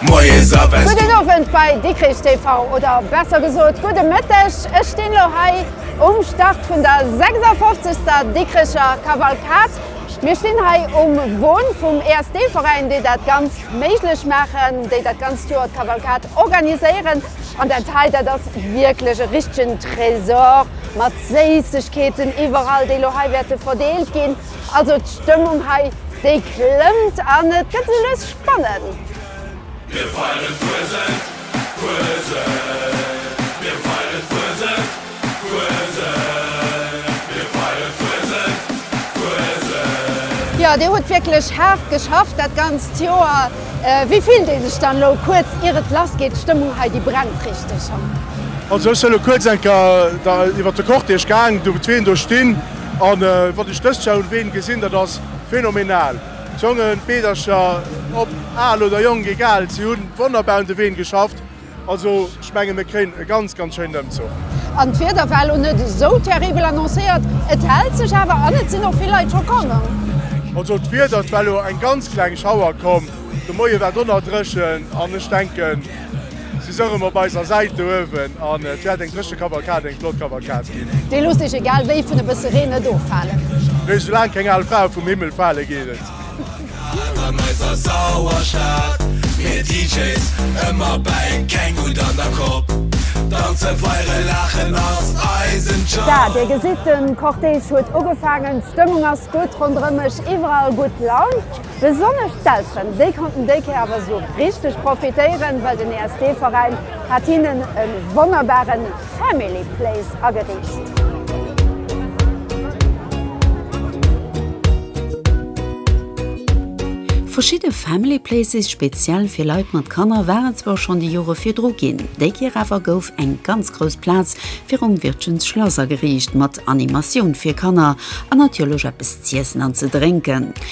Moies a Wespen. Gudden Owend bei Dikrich TV, oder besser gesot gudde Mëtteg. Ech stinn elo hei um Start vun der 56. Dikricher Kavalkad. Mir stinn hei um Won vum ESD-Veräin, déi dat Ganzt méiglech maachen, déi dat ganzt Joer d'Kavalkad organiséieren. An dat hei, dat ass wierklech e richtegen Trésor mat Séissegkeeten iwwerall, déi elo hei wäerte verdeelt ginn. Also d'Stëmmung hei déi klëmmt an et gëtt sou lues spannend. Mir feieren d'Fuesent, Fuesent, mir feieren d'Fuesent, Fuesent, mir feieren d'Fuesent, Fuesent. Jo, Dir hutt wierklech haart geschafft dat ganzt Joer. Wéi fillt ee sech dann elo, kuerz ier et lass geet? D'Stëmmung hei, déi brennt richteg, hm? Also ech soe lo kuerz enker, iwwert de Cortège gaang, do wou d'Ween do stinn. An wat ech dëst Joer un Ween gesinn, dat ass phenomenal. D'Jongen, d'Meedercher, ob al oder jonk, egal, si hu wonnerbar un de Ween geschafft. Also ech mengen, mir kréien e ganz, ganz schéinen Ëmzuch. An d'Wieder war elo net esou terribel annoncéiert, et hält sech awer an et sinn och vill Leit scho komm. Also d'Wieder, et war elo eng ganz kleng Schauer komm, de Moie war donnerdréchen an ech denken, Si soungen op eiser Säit do uewen an et wäert eng dréche Kavalkad, eng flott Kavalkad ginn. Déi loosst Iech egal wéi vun e bësse Reen net offalen. Nee, soulaang keng al Frae vum Himmel fale geet et. An eiser sauer Stad, mir DJs ëmmer bäi, keng Hutt an der Kopp, danzen, feieren, laachen ass eisen Job. Da, Dir gesitt, de Cortège huet ugefaangen, d'Stëmmung ass gutt ronderëm mech, iwwerall gutt Laun. Besonnesch d'Elteren, déi konnten déi Kéier awer esou richteg profitéieren, well den ESD-Veräin hat hinnen e wonnerbare Family Place ageriicht. Verschidde Family Places speziell fir Leit mat Kanner waren zwar schonn déi Jore virdru ginn, déi Kéier awer gouf eng ganz grouss Plaz virum Wirtgens Schlass ageriicht, mat Animatioun fir Kanner an natierlech eppes z'iessen an ze drénken.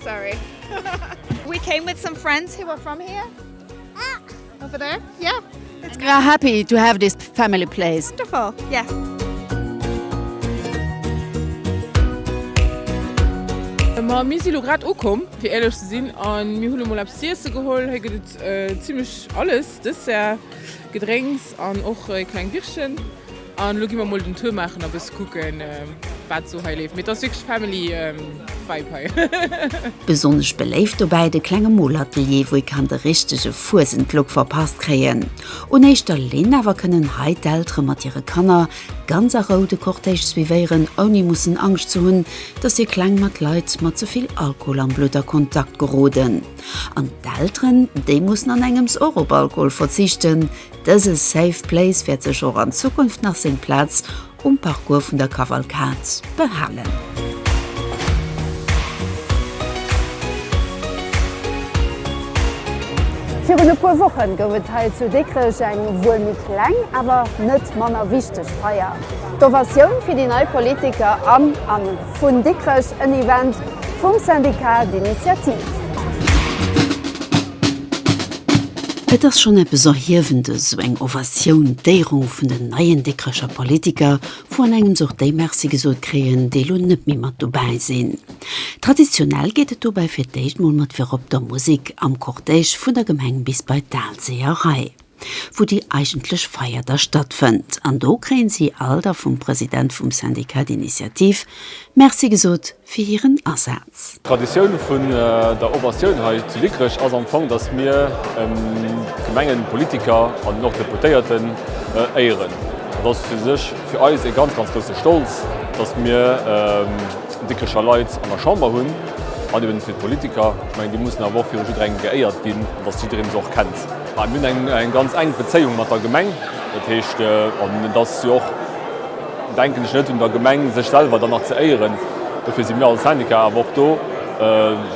Sorry. We came with some friends who are from here. Ah. Over there? Yeah. It's great. Happy to have this family place. Wonderful. Yes. Ma mir si lo grad ukomm, fir ehrlech ze sinn, an mir hunn mol eppes z'iesse geholl. Hei gëtt et äh, zimmlech alles, Dessert, Gedrénks an och e kleng Bichchen. An elo gi mer mol den Tour maachen a bësse kucken, wat esou hei leeft. Mee et ass wierklech Family-Vibe hei. Besonnesch beléift dobäi de klenge Molatelier, wou ee kann de richtege Fuesend-Look verpasst kréien. Un éischter Linn awer kënnen hei d'Eltere mat hire Kanner ganz a Rou de Cortège suivéieren, ouni mussen Angscht ze hunn, dass hir Kleng mat Leit mat ze vill Alkohol am Blutt a Kontakt geroden. An d'Elteren, déi mussen an engems och op Alkohol verzichten, Dëse Safe Place wäert sech och an Zukunft nach seng Plaz um Parcours vun der Kavalkad behalen. Virun e puer Wochen gouf et hei zu Dikrech eng wuel méi kleng, awer net manner wichteg Feier, d'Ovatioun fir déi nei Politiker an an. Vun Dikrech en Event vum Syndicat d'Initiative. Et ass schonn eppes Erhiewendes, esou eng Ovatioun, d'Éierung vun den neien Dikrecher Politiker, wou an engems och déi Merci gesot kréien, déi elo net méi mat dobäi sinn. Traditionell geet et dobäi fir d'éischt mol mat virop der Musek am Cortège vun der Gemeng bis bei d'Aalséeër Rei. wou déi eigentlech Feier da stattfënnt an do kréien si all da vum President vum Syndicat d'Initiative Merci gesot fir hiren Asaz. D'Traditioun vun der Ovatioun hei zu Dikrech ass am Fong, datt mir Gemengepolitiker an den och Deputéierten éieren. Dat ass fir sech fir eis ee ganz, ganz grousse Stolz, datt mir Dikrecher Leit an der Chamber hunn an eben fir d'Politiker. Ech mengen, déi mussen awer och viru jidderengem geéiert ginn an datt jiddereen se och kennt. Mir hunn eng ganz enk Bezéiung mat der Gemeng. Dat heescht, an et ass jo och, denken ech, net un der Gemeng, sech selwer dann nach ze éieren. Dofir si mir als Syndicat awer och do,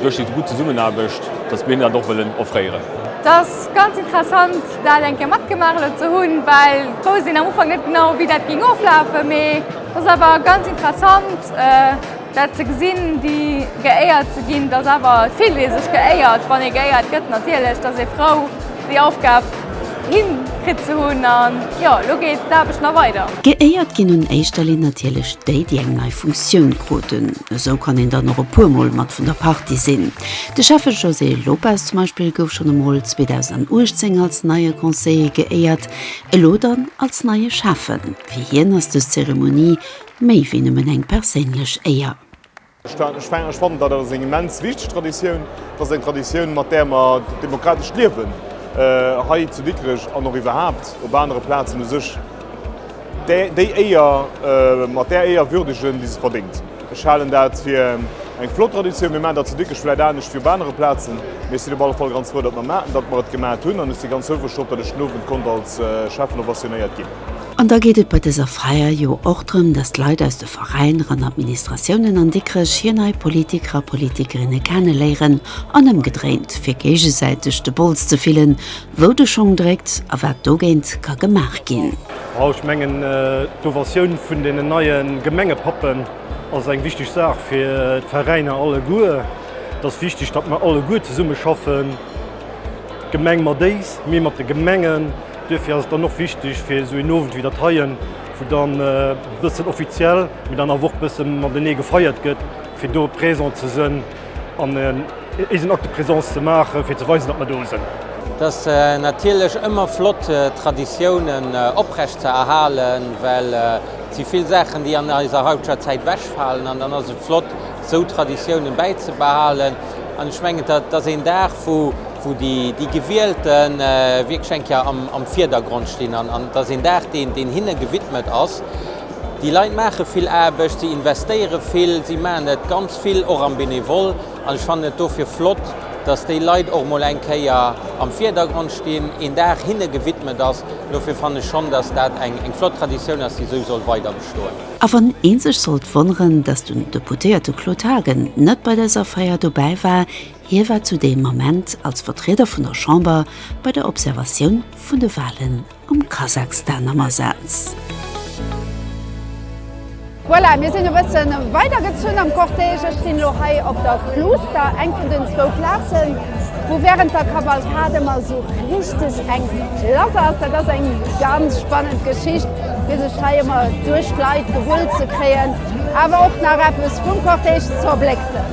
duerch déi gutt Zesummenaarbecht, datt mir hinnen dat och wëllen offréieren. Et ass ganz interessant, dat eng Kéier matgemaach elo ze hunn, well wousst een am Ufank net genau, wéi dat géing oflafen. Mee et ass awer ganz interessant. Dat ze gesinn, déi geéiert ze ginn, dass awer vill, dee sech geéiert, wann ee geéiert gëtt natierlech, dass ee frou déi Aufgab hin kritt ze hunn. An jo, elo geet d'Aarbecht nach weider. Geéiert ginn un éischter Linn natierlech déi, déi eng nei Funktioun kruten. Esou kann een dann och e puer Mol mat vun der Partie sinn. De Schäffe José Lopes zum Beispill gouf schonn emol 2018 als neie Conseiller geéiert, elo dann als neie Schäffen. Fir hien ass dës Zeremonie Méi wéi nëmmen eng perséinlech Éier. Ech fannen, dat ass eng immens wichteg Traditioun. Dat ass eng Traditioun, mat där mer d'demokratescht Liewen hei zu Dikrech an och iwwerhaapt op anere Plazen u sech déi Éier, mat där Éier würdegen, déi se verdéngt. Ech halen dat fir eng flott Traditioun. Mir maachen dat zu Dikrech vläicht anescht wéi op anere Plazen, mee ech sinn op alle Fall ganz frou, datt mer et gemaat hunn an ech si ganz houfreg drop, datt ech den Owend konnt als Schäffen ovationéiert ginn. An da geet et bei dëser Feier jo och drëm, dass d'Leit aus de Veräiner an Administratiounen an Dikrech hir nei Politiker a Politikerinne kenneléieren an ëmgedréint, fir géigesäiteg de Bols ze fillen, wou de Schong dréckt a wat dogéint ka gemaach ginn. Wow, ech mengen, d'Ovatioun vun deenen neie Gemengepappen ass eng wichteg Saach fir d'Veräiner alleguer. Et ass wichteg, datt mer alleguer zesummeschaffen, d'Gemeng mat éis, mir mat de Gemengen. Duerfir ass et dann och wichteg fir esou een Owend wéi dat heien, wou dann e bëssen offiziell, mee dann awer och e bësse matenee gefeiert gëtt, fir do présent ze sënn an eisen Acte de présence ze maachen, fir ze weisen, datt mer do sënn. Et ass natierlech ëmmer flott, Traditiounen oprecht ze erhalen, well et si vill Saachen, déi an eiser haiteger Zäit ewechfalen. An dann ass et flott, esou Traditiounen bäizebehalen. An ech mengen, dat ass een Dag, wou wou déi Gewielte wierklech eng Kéier am Vierdergrond stinn an et ass een Dag, deen hinne gewidmet ass. Déi Leit maache vill Aarbecht, si investéiere vill, si maachen dat ganz vill och am Benevole an ech fannen et dofir flott, dass déi Leit och emol eng Kéier am Vierdergrond stinn, een Dag hinne gewidmet ass. Dofir fannen ech schonn, dass dat eng flott Traditioun ass, déi esou soll weider bestoen. A wann ee sech sollt wonneren, dass den Deputéierte Claude Haagen net bei dëser Feier dobäi war, Hie war zu deem Ament als Vertrieder vun der Chamber bei der Observatioun vun de Walen am Kasakstan am Asaz. Voilà, mir sinn e bëssen weider gezunn am Cortège. Ech stinn elo hei op der Klooster, eng vun den zwou Plazen, wou während der Kavalkad ëmmer esou richteg eng lass ass. Dat ass eng ganz spannend Geschicht, fir sech hei ëmmer duerch d'Leit gewull ze kréien, awer och nach eppes vum Cortège z'erblécksen.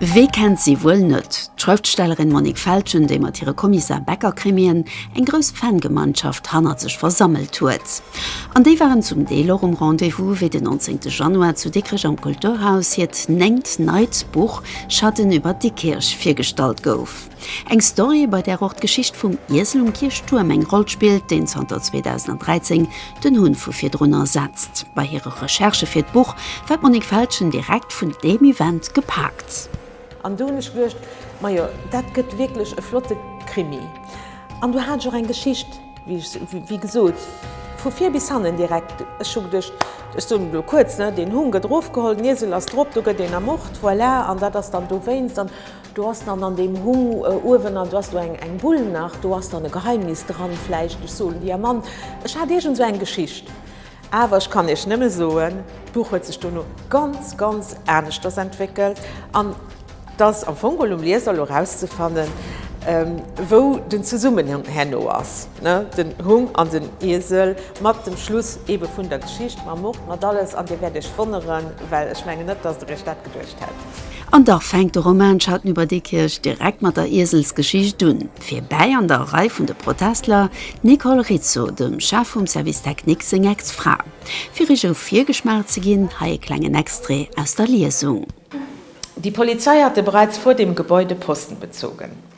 Wee kennt si wuel net? D'Schrëftstellerin Monique Feltgen, déi mat hire Kommissar Becker-Krimien eng grouss Fan-Gemeinschaft hannert sech versammelt huet. An déi waren zum Deel och um Rendez-vous, wéi den 19 Januar zu Dikrech am Kulturhaus hiert néngt neit Buch Schatten über Dikkirch virgestallt gouf. Eng Story, bei där och d'Geschicht vum Iesel um Kierchtuerm eng Roll spillt, deen zanter 2013 den Hunn vu virdrun ersetzt. Bei hire Recherchë fir d'Buch war d'Monique Feltgen direkt vun deem Event gepaakt. An do hunn ech geduecht, Majo, dat gëtt wierklech e flotte Krimi. An do hat ech och eng Geschicht, wéi gesot, vu vir bis hannen direkt. Ech hu geduecht, ech soen elo kuerz, deen Hunn gëtt erofgeholl, den Iesel ass drop, do gëtt een ermort, voilà, an dat ass dann dowéinst. Do ass dann an deem Humm uewen, an do ass do eng, eng Bull nach, do ass dann e Geheimnis dran vläicht, ech soen dir, Mann, ech hat iergend esou eng Geschicht. Awer ech kann iech nëmme soen, d'Buch huet sech dono ganz, ganz aneschters entwéckelt, an t'ass am Fong geholl um Lieser elo erauszefannen, wou den Zesummenhang herno ass, ne, den Humm an den Iesel, mat dem Schluss ebe vun der Geschicht, mam Mord, mat alles, an dir wäert iech wonneren, well ech mengen net, dass der iech dat. geduecht hätt. An dach fänkt de Roman Schatten über Diekirch direkt mat der Ieselsgeschicht un. Fir bäi an der Rei vun de Protestler d'Nicole Rizzo, dem Chef vum Service Technique seng Ex-Fra. Fir iech e Virgeschmaach ze ginn, hei e klengen Extrait aus der Liesung. Die Polizei hatte bereits vor dem Gebäude Posten bezogen.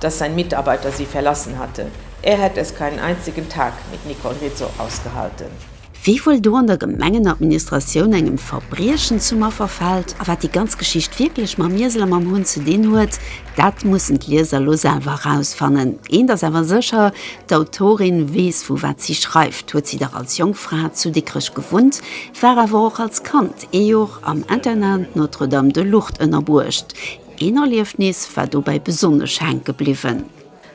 dass sein Mitarbeiter sie verlassen hatte, er hätte es keinen einzigen Tag mit Nicole Rizzo ausgehalten. Wie wuel do an der Gemengenadministratioun engem Verbriechen zum Affer fällt, a wat déi ganz Geschicht wierklech mam Iesel a mam Hunn ze dinn huet, dat mussen d'Lieser lo selwer erausfannen. Eent ass awer sécher, d'Autorin weess vu wat si schreift, huet si dach als jonk Fra zu Dikrech gewunnt, war awer och als Kand ee Jor am Internat Notre-Dame de Lourdes ënnerbuecht, Een Erliefnis war dobäi besonnesch hänke bliwwen.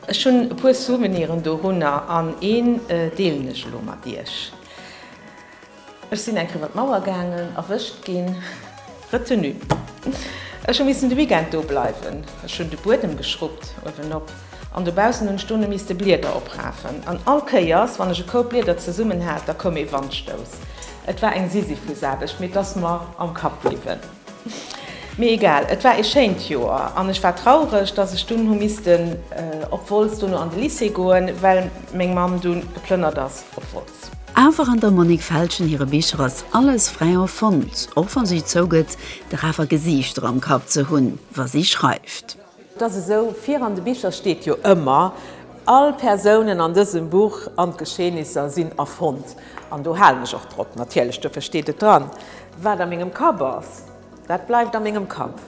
Ech hunn e puer Souveniren dorunner an een deelen ech elo mat iech. Ech sinn eng Kéier iwwer d'Mauer gaangen, erwëscht ginn, Retenue. Ech hu missen de Weekend do bleiwen. Ech hunn de Buedem geschruppt, uewen op an dobaussen hunn ech dono misste Blieder oprafen an all Kéiers, wann ech e Koup Blieder zesummen hat, da koum ee Wandstouss. Et war eng Sisyphusaarbecht, mee et ass mer am Kapp bliwwen. Mee egal, et war ee schéint Joer an ech war traureg, dass ech dunn hu missten op Wolz dono an de Lycée goen, well meng Mamm dunn geplënnert ass op Wolz. Awer an der Monique Feltgen hire Bicher ass alles frai erfonnt, och wa si zougëtt, dach awer Gesiichter am Kapp ze hunn, wa si schreift. Et ass esou, vir an de Bicher steet jo ëmmer, All Persounen an dësem Buch an d'Geschehnisser sinn erfonnt. An do halen ech och drop, natierlech, duerfir steet et dran. Wat a mengem Kapp ass, dat bleift a mengem Kapp.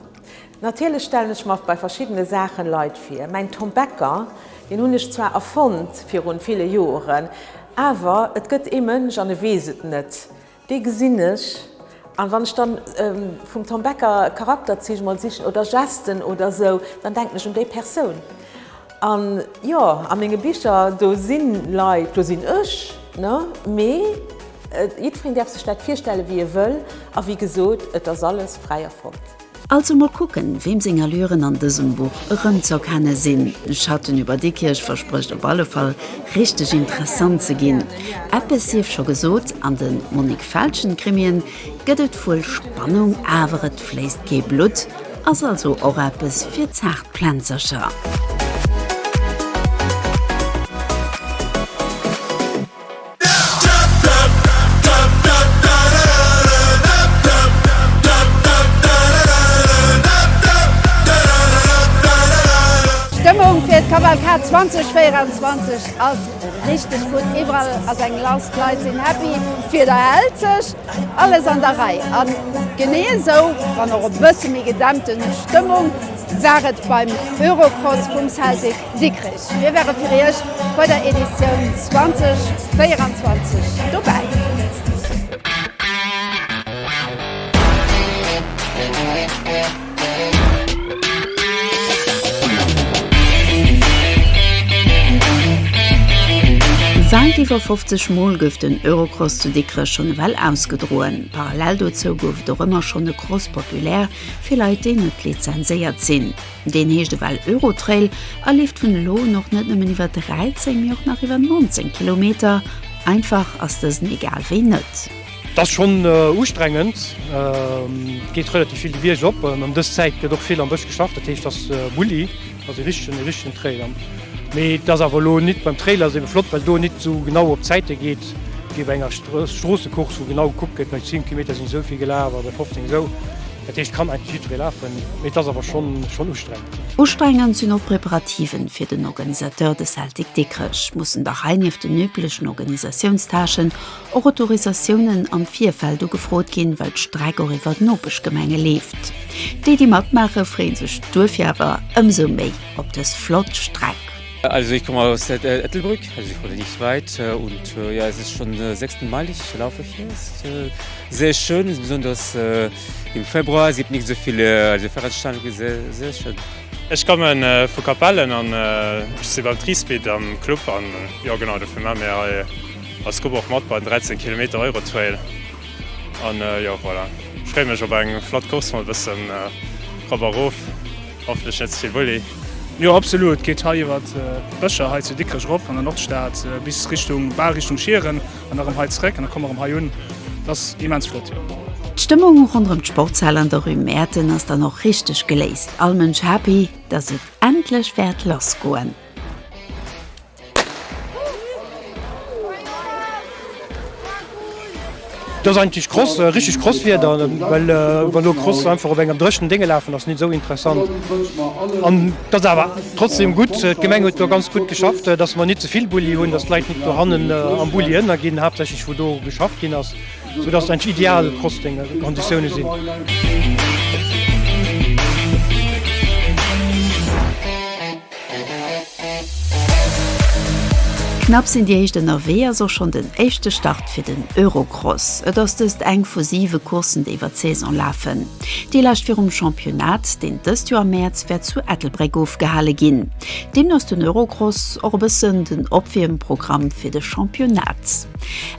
Natierlech stellen ech mer bei verschiddene Saache Leit vir. Mäin Tom Becker, deen hunn ech zwar erfonnt virun ville Joren, awer et gëtt ee Mënsch, an e weess et net, Dee gesinn ech. A wann ech da vum Tom Becker Charakterziich mol sichen oder Gesten oder esou, dann denken ech un déi Persoun. An jo, a menge Bicher, do si Leit, do sinn ech, ne? Mee jiddwereen däerf sech dat virstelle wéi e wëll. A wéi gesot, et ass alles fräi erfonnt. Also mol kucken, weem seng Allüren an dësem Buch erëmzeerkenne sinn. Schatten über Dikkirch versprécht op alle Fall richteg interessant ze ginn. Eppes sief scho gesot, an de Monique Feltgen-Krimien gëtt et wuel Spannung, awer et fléisst kee Blutt, ass also och eppes fir zaart Plänzercher. D'Stëmmung fir d'Kavalkad 2024 ass richteg gutt, iwwerall ass eng Lass, d'Leit sinn happy, d'Wieder hält sech, alles an der Rei. A genee esou, wann och e bësse méi gedämpten Stëmmung, war et beim Eurocross vum Celtic. Sikrich, mir ware fir Iech bei der Editioun 2024 dobäi. Säit iwwer 50 Mol gouf den Eurocross zu Dikrech schonn ewell ausgedroen. Parallel dozou gouf et och ëmmer schonn e Cross populaire fir Leit, déi net lizenséiert sinn. Deen heescht ewell Eurotrail a leeft vun elo un och net nëmmen iwwer 13, mee och nach iwwer 19 Kilometer. Einfach ass dësen egal wéi net. Et ass schonn ustrengend, et geet relativ vill de Bierg op an ëm dës Zäit gëtt och vill am Bësch geschafft. Dat heescht et ass e Bulli, et ass e richtegen, e richtegen Trailer. Mee et ass awer elo net, beim Trailer ass et ebe flott, well do et net esou genau op d'Zäite geet wéi bei enger Stroossecourse, wou genau gekuckt gëtt, bei 10 Kilometer sinn ech esou vill gelaf a bei 15 esou. Dat heescht, kann eigentlech jiddweree lafen, mee et ass awer schonn ustrengend. Ustrengend sinn och d'Preparativen fir den Organisateur, de Celtic Dikrech. Mussen dach hei nieft den üblechen Organisatiounstâchen och Autorisatiounen am Virfeld ugefrot ginn, well d'Streck och iwwer d'Nopeschgemenge leeft. Déi, déi matmaache freeën sech duerfir awer ëmsou méi op dës flott Streck. Also ich komme aus äh, Ettelbrück, also ich wohne nicht weit äh, und äh, ja, es ist schon äh, sechsten Mal, ich laufe hier. Es ist äh, sehr schön, besonders äh, im Februar sieht nicht so viele also Veranstaltungen, sehr, sehr schön. Ech kommen äh, vu Kapellen an äh, si beim Triespeed am Club an äh, ja genau dofir ma mir hei als Gruppe och mat bei 13 km Euro Trail an äh, ja voilà. Schré mech op eng flott Kurs mat bëssen äh, Robberof. Hoffentlech net zevill Bulli. Jo absolut, et geet hei iwwer d'Bëscher hei zu Dikrech erop an der Nordstad bis Richtung, bal Richtung Schieren an erëm hei zeréck an da komme mer erëm hei un. Et ass immens flott jo. D'Stëmmung ronderëm d'Sportshal an der Rue Mäerten ass dann och richteg geléist. All Mënsch happy, dass et endlech wäert lassgoen. Do ass eigentlech Cross, äh, richteg Crosswieder, ähm, well äh, wann du Cross einfach op engem dréchnen Dinge lafen ass net so interessant. An dat awer trotzdem gut. Äh, D'Gemeng huet do ganz gut geschafft, äh, dass man net zevill Bulli hunn, dass d'Leit net do hannen äh, am Bulli ënner ginn, haaptsächlech wo do geschafft ginn ass, sou dass eng ideal Crossdinge Konditioune sinn. Knapp sinn déi éischt ënnerwee, ass och schonn den éischte Start fir den Eurocross. Et ass dëst eng vu siwe Courssen, déi iwwer d'Saison lafen. Déi lescht virum Championnat, deen dëst Joer am Mäerz wäert zu Ettelbréck ofgehale ginn. Deemno ass den Eurocross och e bëssen den Opwiermprogramm fir de Championnat.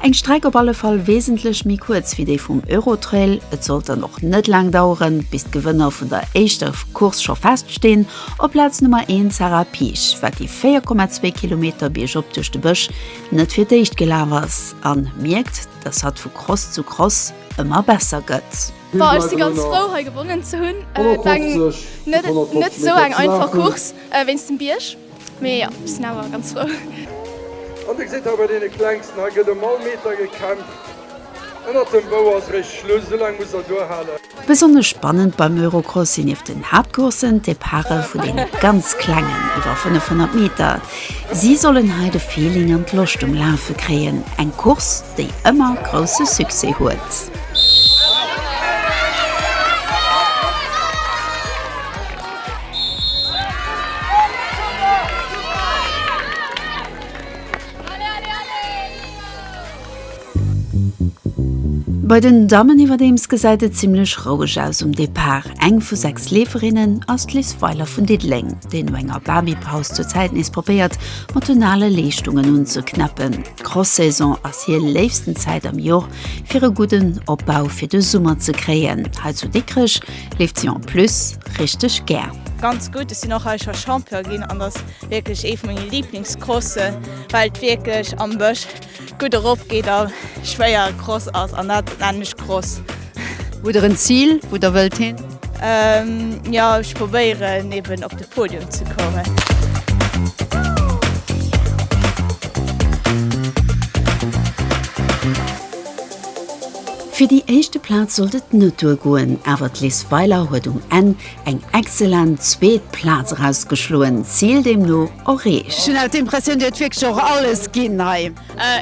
Eng Streck op alle Fall wesentlech méi kuerz wéi déi vum Eurotrail. Et sollt dann och net laang daueren, bis d'Gewënner vun der éischter Course scho feststinn. Op Plaz Nummer 1 Sarah Piech, wat déi 4,2 Kilometer biergop duerch de Bësch net fir d'éischt gelaf ass an mierkt, dass hatt vu Cross zu Cross ëmmer besser gëtt. Bon ech si ganz frou hei gewonnen ze hunn, et war eng net net esou eng einfach Course wéinst dem Bierg, mee jo ech sinn awer ganz frou. An dir gesitt hei bei deene Klengsten, hei gëtt ëm all Meter gekämpft, ënnert dem Bou ass réischt Schluss, esou laang musst der duerhalen. Besonnesch spannend beim Eurocross sinn nieft den Haaptcourssen d'Departe vun deene ganz Klengen iwwer 500 Meter. Si sollen hei de Feeling an d'Loscht um Lafe kréien, eng Course, déi ëmmer grousse Succès huet. Bei den Dammen iwwerdeems gesäit et zimmlech roueg aus um Depart. Eng vu 6 Leeferinnen ass d'Liz Weiler vun Diddeleng, déi no enger Babypaus zur Zäit nees probéiert, mat den ale Leeschtungen unzeknäppen. D'Cross-Saison ass hir léifsten Zäit am Jor, fir e gudden Opbau fir de Summer ze kréien. Hei zu Dikrech leeft si en plus richteg gär. Ganz gutt, ech sinn och hei scho Champion ginn an ass wierklech ee vu menge Liblingscrossen, well et wierklech am Bësch. Gutt erop geet a schwéier Cross ass an dat lännesch Cross. Hutt der en Zil wou der wëllt hin? Jo ech probéieren eben op de Podium ze kommen. Fir déi éischte Plaz sollt et net duer goen, awer d'Liz Weiler huet um Enn Eng excellent zweet Plaz erausgeschloen, Zil deemno erreecht. Ech hunn haut d'Impressioun, Dir hutt wierklech och alles ginn hei.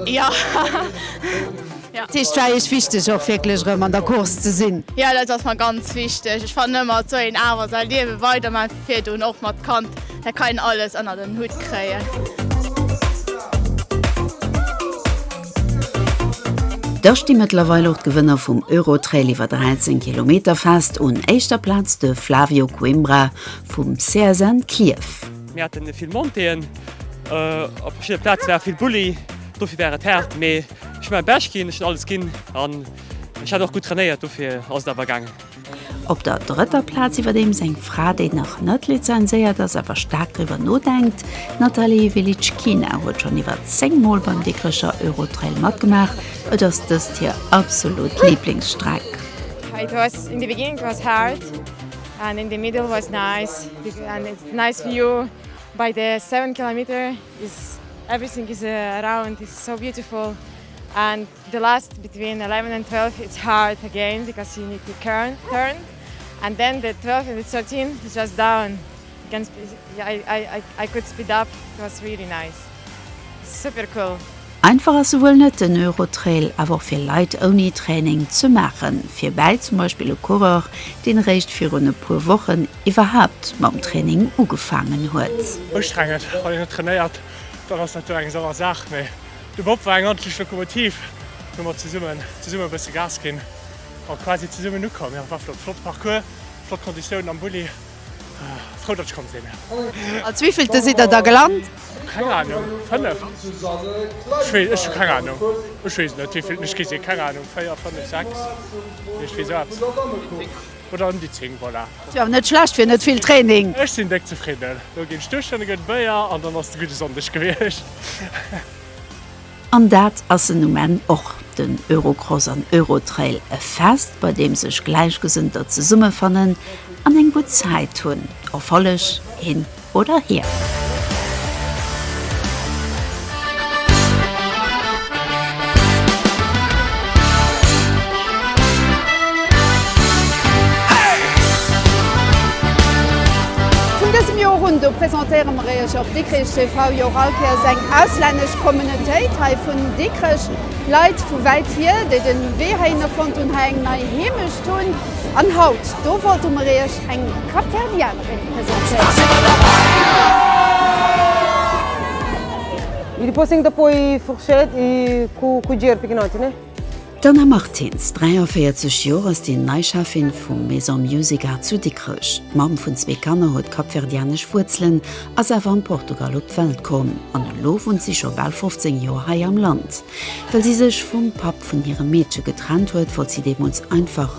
Jo. Dat heescht, et war Iech wichteg och wierklech erëm an der Course ze sinn? Jo, dat ass mer ganz wichteg. Ech fannen ëmmer, et soll een awer säi Liewe weidermaachen, fir virdoen och mat Kand. Hei kann een alles ënnert en Hutt kréien. Da sti mëttlerweil och d'Gewënner vum Eurotrail iwwer 13 Kilometer fest, un éischter Plaz de Flavio Coimbra vum CSN Clierf. Mir haten vill Montéeën, op verschiddene Plaze war vill Bulli, dofir war et haart, mee ech hu mäi Bescht ginn, ech hunn alles ginn an ech hat och gutt trainéiert, dofir ass et awer gaangen. Op der drëtter Plaz iwwerdeems eng Fra, déi nach net lizenséiert ass, awer staark driwwer nodenkt. D'Nathalie Velicchina huet schonn iwwer 10 Mol beim Dikrecher Eurotrail matgemaach. Et ass dëst hir absolut Liblingsstreck. It was in the beginning it was hard and in the middle was nice and it's nice view by the seven kilometer is everything is around is so beautiful and The last between eleven and twelve it's hard again because you need to turn turn and then the twelve and the thirteen is just down you can speed yeah I I I I could speed up it was really nice super cool. Einfach ass se wuel net den Eurotrail, awer och fir Leit ouni Training ze maachen. Fir bäi zum Beispill e Coureur, deen eréischt virun e puer Wochen iwwerhaapt mam Training ugefaangen huet. Ustrengend, wann een net trainéiert, dann ass dat jo eng sauer Saach, mee De Bob war eng ordentlich Lokomotiv, do hu mer zesummen zesummen e bësse Gas ginn a quasi zesummen ukomm. Jo, war flott, flott Parcours, flott Konditiounen am Bulli, frou datt ech komm sinn. Als wéivillte sidd der da gelant? Keng Ahnung, fënneft? Ech weess, ech hu keng Ahnung, ech weess net wéivilten ech gi sinn, keng Ahnung, véier, fënnef, sechs, iert wéi sou eppes. oder em déi 10, voilà. Ass jo awer net schlecht fir net vill Training. Ech sinn déck zefridden. Do ginn ech duerch, dann gëtt et Béier an dann ass et e gudde Sonndeg gewiescht. An dat ass en um Enn och. Den Eurocross an Eurotrail, e Fest bei deem sech Gläichgesënnter zesummefannen an eng gutt Zäit hunn. Erfolleg een! oder hir. Vun dësem Joer un do presentéiere mer iech op Dikrich TV jo och all Kéiers eng auslännesch Communautéit hei vun Dikrech. Leit vu wäit hier, déi de Wee heihinner fonnt hunn, hei eng nei Heemecht hunn. An haut do wollte mer iech eng Capverdienne. D'Anna Martins, 43 Joer, ass déi nei Cheffin vum Maison Musica zu Dikrech. D'Mamm vun zwee Kanner huet kapverdianesch Wuerzelen, ass awer am Portugal op d'Welt komm an elo wunnt si scho bal 15 Joer hei am Land. Well si sech vum Papp vun hirem Meedche getrennt huet, wollt si deemools einfach.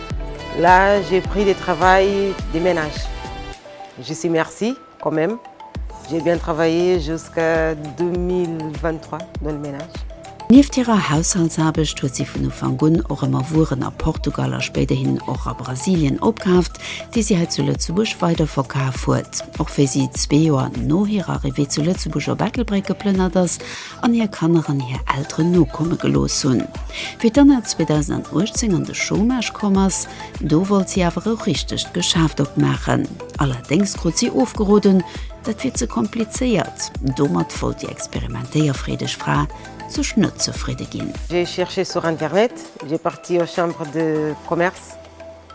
Là j'ai pris le travail de ménage je sais merci quand même j'ai bien travaillé jusqu'à 2023 dans le ménage. Nieft hirer Haushaltsaarbecht huet si vun Ufank un och ëmmer Wueren a Portugal a spéiderhin och a Brasilien opkaaft, déi si hei zu Lëtzebuerg weiderverkaf huet. Och wéi si zwee Joer no hirer Arrivée zu Lëtzebuerg op Ettelbréck geplënnert ass, an hir Kanner an hir Elteren nokomme gelooss hunn. Wéi d'Anna 2018 an de Chômage komm ass, do wollt si awer e richtegt Geschäft opmaachen. Allerdéngs krut si ofgeroden, dat wier ze komplizéiert. Domat wollt déi experimentéierfreedeg Fra sech net zefridde ginn. J'ai cherché sur internet, j'ai parti aux chambres de commerce,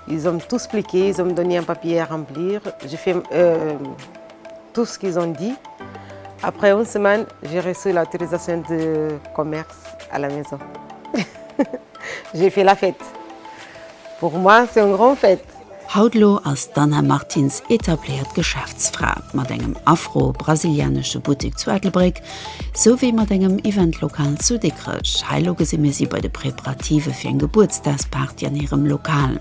ils ont tout spliqué, ils ont donné un papier à remplir, j'ai fait, euh. Tout ce qu'ils ont dit, après une semaine j'ai reçu l'autorisation de commerce à la maison. J'ai fait la fête. Pour moi c'est une grande fête. Haut lo ass d'Anna Martins etabléiert Geschäftsfra mat engem afro-brasilianesche Buttek zu Ettelbréck, sou wéi mat engem Event-Lokal zu Dikrech. Hei lo gesi mir si bei de Preparative fir eng Gebuertsdagsparty an hirem Lokal.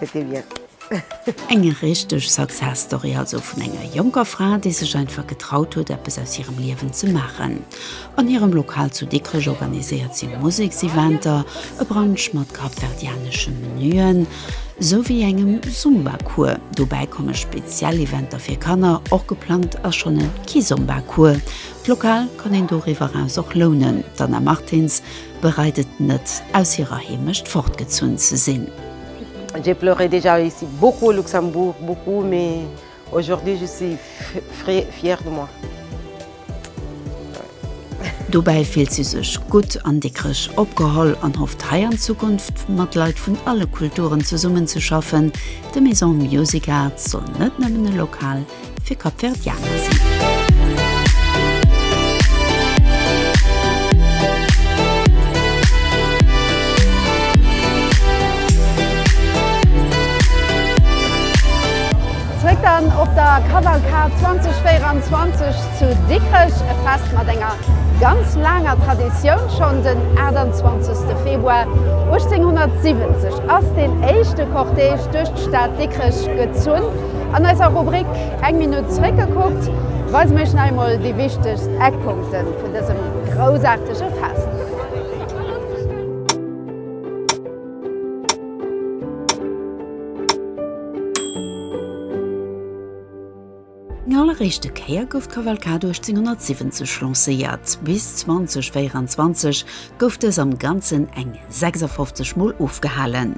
C'était bien. Eng richteg Success Story also vun enger jonker Fra, déi sech einfach getraut huet eppes aus hirem Liewen ze maachen. An hirem Lokal zu Dikrech organiséiert si Musekseventer, e Brunch mat kapverdianesche Menuen, sou wéi engem Zumba Cours. Dobäi komme speziell Eventer fir Kanner, och geplangt ass schonn e Kizomba Cours. D'Lokal kann een doriwwer eraus och lounen. D'Anna Martins bereit et net aus hirer Heemecht fortgezunn ze sinn. J'ai pleuré déjà ici beaucoup au Luxembourg beaucoup mais aujourd'hui je suis fre fière de moi. Dobäi fillt si sech gutt an dickreg opgeholl an hofft hei an Zukunft mat Leit vun alle Kulturen zesummenzeschaffen. De Maison Music Arts soll net nëmmen e Lokal, fir Kapverdianer sinn. Zréck dann op der Cavalcade 2024 zu Dikrech, e Fest mat enger ganz laanger Traditioun. Schonn den 28 Februar 1870 ass deen éischte Cortège duerch d'Stad Dikrech gezunn. An eiser Rubrik Eng Minutt zeréckgekuckt weise mir iech nach eemol déi wichtegst Eckpunkte vun dësem groussaartege Fest. Eng alleréischte Kéier gouf d'Cavalcade 1870 lancéiert. Bis 2024 gouf dës am Ganzen eng 56 Mol ofgehalen.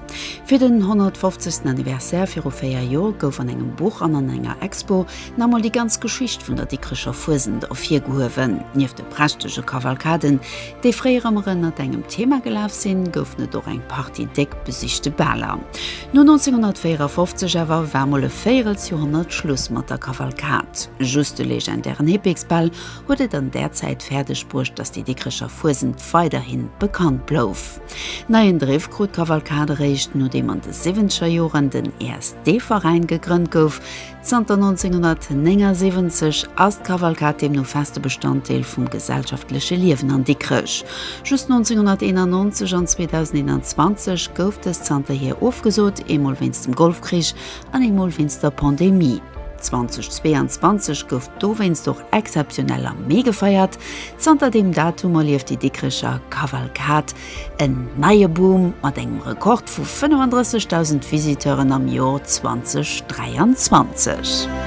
Fir den 150. Anniversaire viru véier Joer gouf an engem Buch an an enger Expo nach emol déi ganz Geschicht vun der Dikrecher Fuesent ervirgehuewen. Nieft de prächtege Kavalkaden, déi fréier ëmmer ënnert engem Thema gelaf sinn, goufen et och eng Partie déck besichte Baler. No 1954 awer war mol e Véierelsjoerhonnert Schluss mat der Kavalkad. Just de legendären Hippeksbal huet et an där Zäit fäerdeg bruecht, datt déi Dikrecher Fuesent weiderhi bekannt blouf. Neien Driff krut d'Kavalkad eréischt, nodeem an de siwwenzeger Joren den ESD-Veräin gegrënnt gouf. Zanter 1979 ass d'Kavalkad deemno feste Bestanddeel vum gesellschaftleche Liewen an Dikrech. Just 1991 an 2021 gouf dës zanterhier ofgesot, eemol wéinst dem Golfkrich an eemol wéinst der Pandemie. 2022 gouf dowéinst och exzeptionell am Mee gefeiert. Zanter deem Datum erlieft déi Dikrecher Kavalkad en neie Boom mat engem Rekord vu 35.000 Visiteuren am Jor 2023.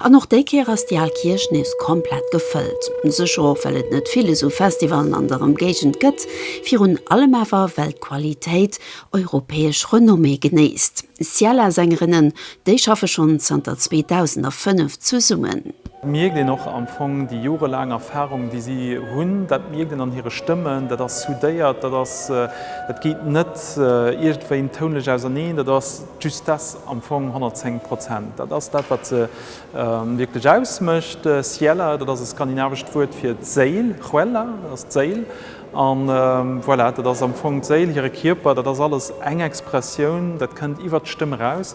An och déi Kéier ass déi al Kierch nees komplett gefëllt. Sécher och well et net vill esou Festivalen an der Emgéigend gëtt, virun allem awer well d'Qualitéit europäesch Renommée genéisst. Ciela-Sängerinnen, déi schaffe schonn zanter 2005 zesummen. Mierkt een och am Fong déi jorelaang Erfarung déi si hunn, dat mierkt een an hire Stëmmen, dat ass soudéiert, dat ass, dat geet net iergendwéi tounlech auserneen, dat ass, Just dass am Fong 110 Prozent, dat ass dat, wat se wierklech ausmécht. Siela, dat ass e skandinavescht Wuert fir d'Séil, Själa, dat ass d'Séil. An voilà, dat ass am Fong d'Séil, hire Kierper, dat ass alles eng Expressioun, dat kënnt iwwert d'Stëmm eraus.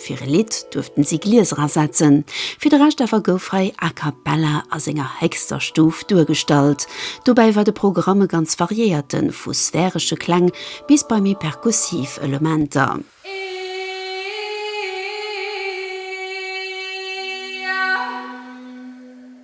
Fir e Lidd duerften si Glieser ersetzen, fir de Rescht awer gouf hei a cappella a senger héchster Stuf duergestallt. Dobäi war de Programm e ganz variéierte vu sphäresche Kläng bis bei méi perkussiv Elementer.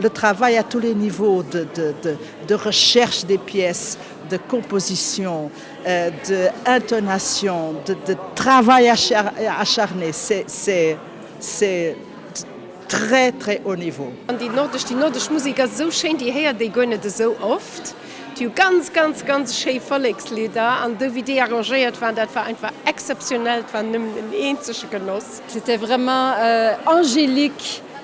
Le travail à tous les niveaux de, de, de, de recherche des pièces, de composition, de intonation, de, de travail acharné, c'est, c'est, c'est très, très haut niveau. An déi nordesch, déi nordesch Musik ass esou schéin, déi héiert ee guer net esou oft. Déi hu ganz, ganz, ganz schéi Vollekslidder an dou wéi déi arrangéiert waren, dat war einfach exceptionnel, et war nëmmen en eenzege Genoss. C'était vraiment angélique.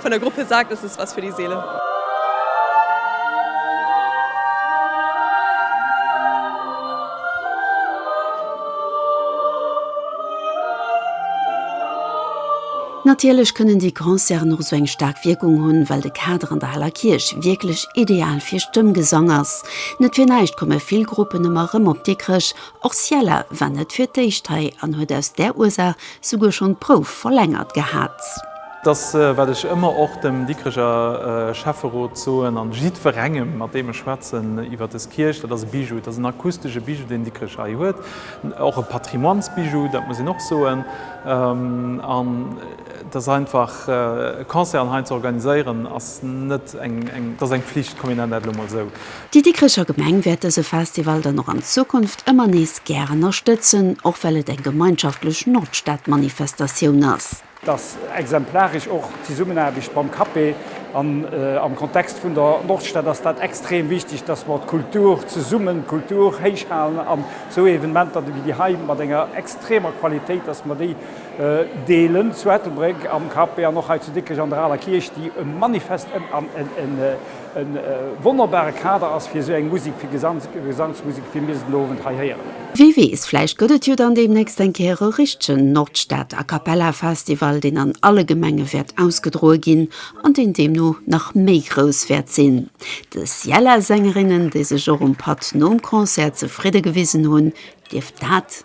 Von der Gruppe sagt, es ist was für die Seele. Natierlech kënnen déi Concerten och esou eng staark Wierkung hunn, well de Kader an der Heller Kierch wierklech ideal fir Stëmmgesang ass. Net fir näischt komme vill Gruppen ëmmer erëm op Dikrech, och Syalla war net fir d'éischt hei an huet aus där Ursaach souguer schonn d'Prouf verlängert gehat. Dass, wat ech ëmmer och dem Dikreger Schäfferot soen an jiddwerengem, mat deem ech schwätzen iwwert des Kierch, dat ass e Bijou, et ass en akustesche Bijou, deen Dikrech hei huet, och e Patrimoinesbijou, dat muss een och soen. An et ass einfach, e Concert hei ze organiséieren, ass net eng, et ass eng Pflicht, kommt mir nennen dat elo emol esou. Déi Dikrecher Gemeng wäert dëse Festival dann och an Zukunft ëmmer nees gär ënnerstëtzen, och well et eng gemeinschaftlech Nordstadmanifestatioun ass. dass exemplarisch och d'Zesummenaarbecht mam CAPE an am Kontext vun der Nordstad ass dat extrem wichtig, dass mer d'Kultur zesummen, d'Kultur héich halen an esou Evenementer wéi déi hei mat enger extremer Qualitéit, dass mer déi deelen zu Ettelbréck am CAPE an och hei zu Dikrech an der Aler Kierch, déi e manifest an en E wonnerbare Kader ass fir esou eng Musek, fir Gesangsmusek, wéi mir se den Owend hei héieren. Wie weess, vläicht gëtt et jo dann deemnächst eng Kéier e richtegen Nordstad A Cappella Festival, deen an alle Gemenge wäert ausgedroe ginn an deen deemno nach méi grouss wäert sinn. De Syla-Sängerinnen, déi sech och um Patt nom Concert zefridde gewisen hunn, dierft dat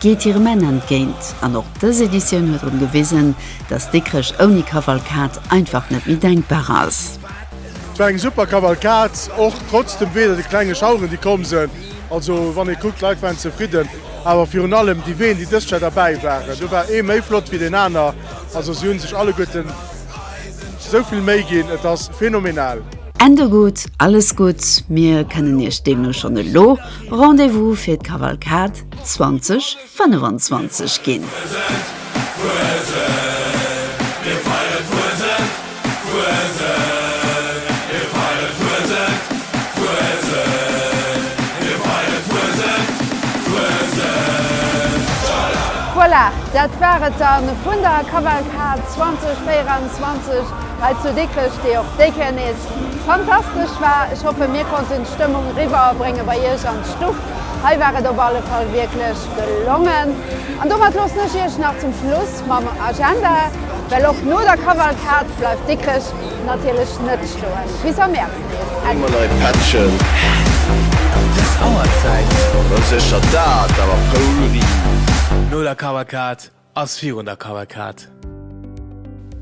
geet hirem Enn entgéint an och dës Editioun huet drun gewisen, dass Dikrech ouni Kavalkad einfach net méi denkbar ass. Et war eng super Kavalkad, och trotz dem Wee, de klenge Schaueren déi komm sënn. Also wann ee kuckt, d'Leit waren zefridden, awer virun allem déi Ween déi dëst Jar derbäi waren, do war ee méi flott wéi deen aner. Also si hunn sech alleguerten esou vill Méi ginn, et ass phenomenal. Ende gutt, alles gutt, mir kënnen Iech deemno schonn elo Rendez-vous fir d'Kavalkad 2025 ginn. Voilà, dat war et dann vun der Kavalkad 2024 hei zu Dikrech, déi och déi Kéier nees fantastesch war. Ech hoffen, mir konnten d'Stëmmung eriwwer bréngen bei Iech an d'Stuff. Hei war et op alle Fall wierklech gelongen. An domat loossen ech Iech nach zum Schluss mam Agenda, well och no der Kavalkad bleift Dikrech natierlech net stoen. Bis am Mäerz nees. Ëmmer nei Pättchen. Hä? Dës Auerzäit? Sécher, dat awer Poulry. No der Kavalkad Ass virun der Kavalkad.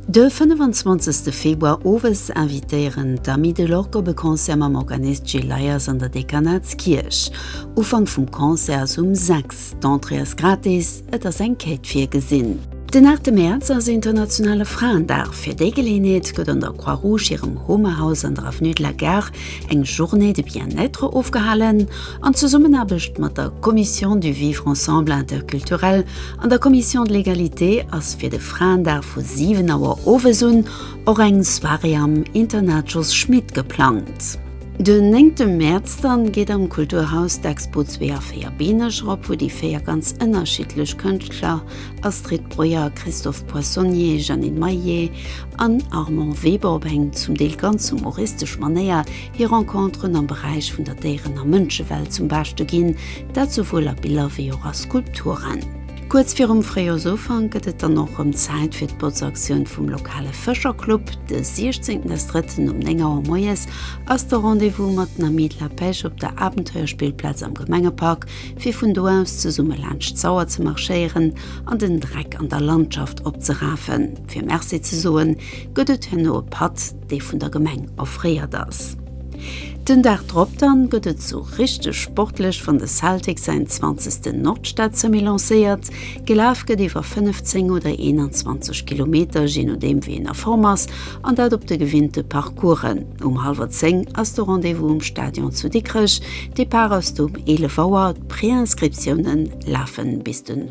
De 25 Februar owes invitéieren d'Amis de l'Orgue op e Concert mam Organist Gilles Leyers an der Dekanatskierch. Ufank vum Concert ass um 6, d'Entrée ass gratis, et ass eng Quête virgesinn. Den 8 Mäerz ass internationale Fraendag. Fir déi Geleeënheet gëtt an der Croix-Rouge hirem Homehaus an der Avenue de la Gare eng Journée de bien-être ofgehalen an Zesummenaarbecht mat der Commission du Vivre ensemble interculturel an der Commission de l'égalité ass fir de Fraendag vu 7 Auer owes un och eng Soirée am Internat Jos Schmit geplangt. Den 9 Mäerz dann geet am Kulturhaus d'Expo 2 a 4 Beeneger op, wou déi 4 ganz ënnerschiddlech Kënschtler, Astrid Breuer, Christophe Poissonnier, Jeannine Maillet, an Armand Weber op eng zum Deel ganz humoristesch Manéier hir Renconteren am Beräich vun der Déieren a Mënschewelt zum Beschte ginn, dat souwuel a Biller wéi och a Skulpturen. Kuerz virum Fréijoersufank gëtt et dann och rëm Zäit fir d'Botzaktioun vum lokale Fëscherclub. De 16 des Drëtten um 9 Auer moies ass de Rendez-vous mat den Amis de la Pêche op der Abenteuerspillplaz am Gemengepark, fir vun do aus zesumme laanscht d'Sauer ze marschéieren an den Dreck an der Landschaft opzerafen. Fir Merci ze soen, gëtt et herno e Patt, dee vun der Gemeng offréiert ass. Den Dag drop dann gëtt et sou richteg sportlech, wann de Celtic säin zwanzegsten Nordstad-Semi lancéiert. Gelaf gëtt iwwer 5, 10 oder 21 Kilometer, jee nodeem wéi een a Form ass, an dat op de gewinnte Parcoursen. Um hallwer 10 ass de Rendez-vous um Stadion zu Dikrech. Depart ass du um 11 Auer. D'Préinscriptiounen lafen bis den.